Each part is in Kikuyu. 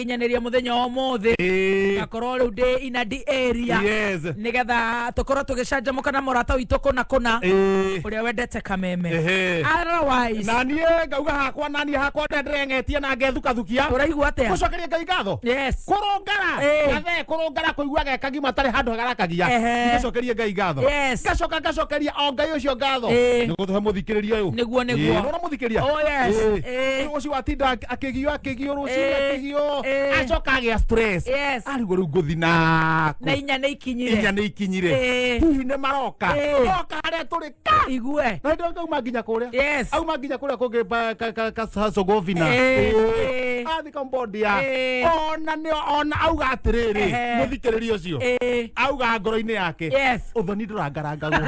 nginyanĩria mũthenya wa ũmũthĩ Eh, ngakorwo rĩu ndĩ inadi area yes. nĩgetha tũkorwo tũgĩcanjamũka na mũrata witũ kũna kũna Eh, ũrĩa wendete kameme ehe. otherwise na niä ngauga hakwa na niä hakwa ndä ndĩrengetie na ngethukathukia ũraigua atĩa gũcokeria ngai ngatho yes kũrũngara Eh. gathe kũrũngara kũigua gekagi matarĩ handũ hagarakagia Ehe. ngacokerie ngai ngatho Yes. ngacoka ngacokeria o ngai ũcio ngatho Eh. nĩ gũtũhe mũthikĩrĩria ũyũ Nĩguo, nĩguo. nona mũthikĩria Oh, yes. Eh. ũcio watinda akĩgio akĩgiũrũ ũcira Eh, tigio eh. acoka agĩa stress Yes. arigwo rĩu ngũthi naku na inya nä ikinyire inya nĩ ikinyire Eh. hihi nĩ maroka Eh. oka harĩa tũrĩ ka igue na ndio auma nginya kũrĩa Yes. auma nginya kũrĩa kũngĩ ba- ka- ka- ka- ka- sogovina Eh, eh. athi kambodia Eh. ona nĩ ona auga atĩrĩrĩ Ehe. mũthikĩrĩria ũcio Eh, auga ngoro-inĩ yake yes. ũthoni ndũrangarangagwo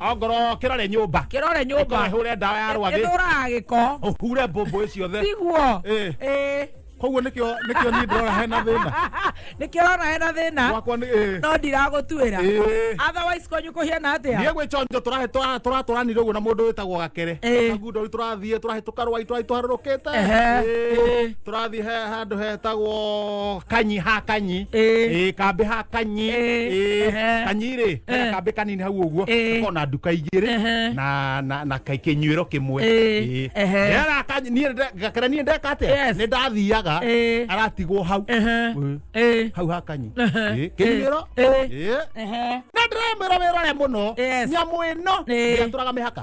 ongoro kĩrore nyũmba kĩrore nyũmba hũre ndawa ya rwagĩ ĩthũraga gĩko ũhure mbũmbũ ciothe tiguo Eh. Eh. koguo nĩkĩo nĩkĩo niĩ ndĩrona hena thĩna nĩkĩo ũrona hena thĩna gwakwa nĩ eh. no ndiragũtuĩra Eh. otherwise kwanyu kũhiana atĩa niä gwä conjo tåratåranire å guo na må ndå wä tagwo gakere Eh. kagundo tå rathiä tå rahä tå karwai tå rahä tå harå rå kä Ehe. te tũrathiĩ he handũ hetagwo kanyi ha kanyi Ĩĩ. Ĩĩ, kambĩ ha kanyi Ĩĩ. Ĩĩ, Ehe. kanyi rĩ hena kambĩ kanini hau ũguo Ĩĩ. gũkorwo na nduka igĩrĩ Ehe. na na na kai- kĩnyuĩro kĩmwe Ĩĩ. Ĩĩ. Ehe. Nĩ ara- kanyi- niĩ nde- ngakĩra niĩ ndeka atĩa Yes. nĩ ndathiaga Ĩĩ. aratigwo hau Ĩĩ. Ĩĩ. Ĩĩ. hau ha kanyi Ehe. Ĩĩ, kĩnyuĩro Ĩĩ. Ĩĩ. Ehe. na ndĩramwĩra wĩrore mũno Yes. nyamũ ĩno Ĩĩ. ndĩatũraga mĩhaka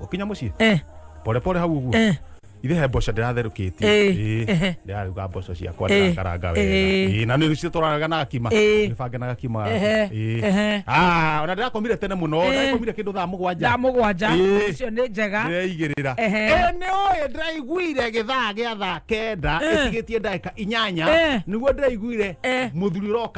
ukinya muciĩ eh pore pore hau uguo eh ithe he mboco ndĩratherũkĩtie Eh, Ĩĩ, ehe. ndĩraruga mboco ciakwa Eh, ndĩrakaranga wega eh. Ĩĩ, na nĩ citwaranaga na gakima Eh. nĩbange na gakima Ehe, Ĩĩ. ehe. Ah, ona ndĩrakomire tene mũno Eh. ndĩrakomire kĩndũ thaa mũgwanja thaa mũgwanja Eh. icio nĩ njega ndĩraigĩrĩra Ehe. Eh, nĩ ũĩ ndĩraiguire gĩthaa gĩa thaa kenda Eh. ĩtigĩtie ndagĩka inyanya Eh. nĩguo ndĩraiguire Eh. mũthuri ũroka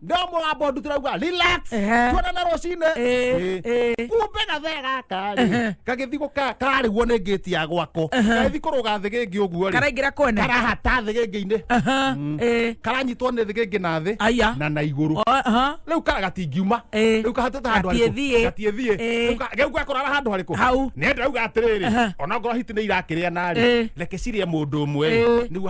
no mũgambo ndu tũraigua relax Ehe. tuonana rũcinĩ Ĩ, ĩ. kumbe gathe gaka rĩ gagĩthi gũka karĩguo nĩ ngĩti ya gwakwa gagĩthi kũrũga thĩ gĩngĩ ũguo rĩ karaingĩra kwene karahata thĩ gĩngĩ-inĩ Aha, ĩ. karanyitwo nĩ thĩ gĩngĩ na thĩ Aya. na na igũrũ O, aha. rĩu kara gatingiuma Ĩ. rĩu kahatĩte handũ harĩkũ? Gatiĩthiĩ. gatiĩthiĩ Ĩ. Rĩu ka- rĩu gakorara handũ harĩkũ Hau. nĩ ndauga atĩrĩrĩ Aha. ona ngoro hiti nĩ irakĩrĩa narĩ Ĩ. reke cirĩe mũndũ ũmwe Ĩ. nĩguo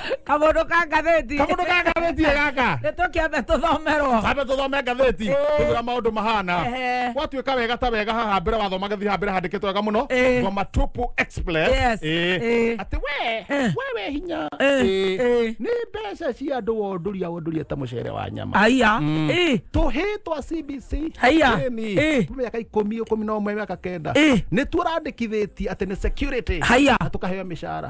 kamundu ka ngathĩti kamũndũ ka ngathĩti ĩ gaka nĩ tũkĩambe tũthomerwo kambe tũthome ngathĩti Ĩĩ. tũgĩra maũndũ mahana Ehe. gwatuĩka wega ta wega haha mbere wathoma gathi haha mbere handĩkĩtwo wega mũno Ĩĩ. ngoma tupu express Yes. Ĩĩ. Ĩĩ. atĩ we wewe hinya Ĩĩ. Ĩĩ. Ĩĩ. nĩ mbeca cia andũ wondoria wondoria ta mũcere wa nyama aya ĩ tũhĩ twa cbc Haiya. Ĩni. Ĩ. mĩaka ikũmi ikũmi na ũmwe mĩaka kenda Ĩ. nĩ tũrandĩkithĩtie atĩ nĩ security Haiya. na tũkaheo mĩcara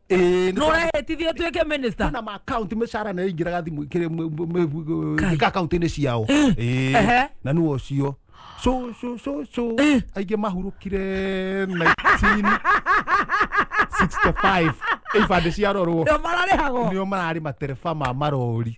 Ĩĩ, nĩ no ũrehĩtithio ũtuĩke minista kwĩna ma account mĩcara nayo ingĩraga thimũ ikĩrĩ mũ- mũ- mũ- Kai. ika account-inĩ ciao Ĩĩ, Ehe. na nĩ ũcio so so so so Ĩĩ. aingĩ mahurũkire 1965 ibandĩ ciarorwo ndio mararĩhagwo nĩo mararĩ matereba ma marori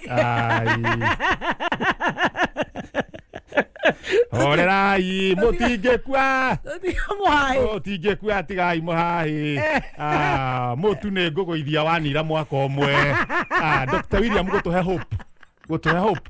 Ay. Horerai, mutingĩkua. Mutingĩkua tigai mũhahi. Eh. Ah, mutu nĩ ngũgũithia wanira mwaka ũmwe. Ah, Dr. William gũtũhe hope. Gũtũhe hope.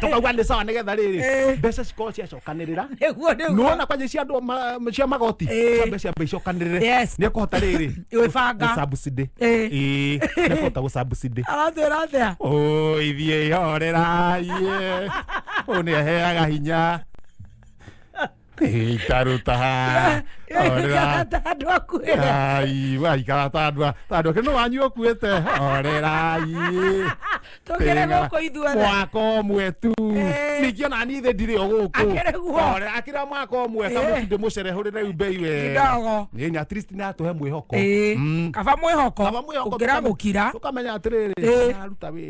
tũkauga nĩ sawa nĩ getha rĩrĩ Eh. mbeca cikorwo ciacokanĩrĩra nĩguo nĩguo nona kwanja cia andå ma- cia magoti Eh. ciambe ciambe icokanĩrĩre Yes. nä ekåhota rä rä Gwĩbanga. gå Eh. nä ekåhota gå cambusindä aratwĩra atĩa ithiä ihorera å nä aheaga hinya itaruta haha orera Ĩkĩhata andũ akuĩre ai waikara ta andũ a- ta andũ ake no wanyu ũkuĩte orerai tũkĩre gũkũ ithuothe mwaka ũmwe tu Eh. ningĩ ona niĩ thĩ ndirĩ o gũkũ Akĩrĩ guo. Ore, akĩra mwaka ũmwe Eh. kamũtindĩ mũcerehũrĩre rĩu mbei we Kidogo. Nĩ, at least natũhe mwĩhoko Ĩĩ. Mm. kaba mwĩhoko Kaba mwĩhoko gũkĩra tũkame- gũkira tũkamenya atĩrĩrĩ Ĩĩ. aruta wĩra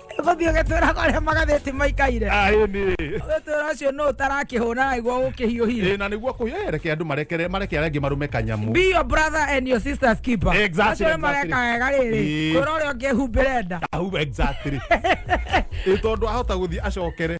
gũthiĩ ũgĩtwĩra kwarĩa magathĩti maikaire aĩ nĩ ũgĩtwĩra ũcio nũ ũtarakĩhũna naiguo gũkĩhiũhire Ĩ, na nĩguo kũyereke andũ marekere mareke arĩa angĩ marũme kanyamu be your brother and your sister's keeper Exactly, acio nĩ mareka exactly. wega rĩrĩ Ĩĩ. kwĩra ũrĩa ũngĩ humbĩre nda Au, exactly Ĩ, tondũ ahota gũthiĩ acokere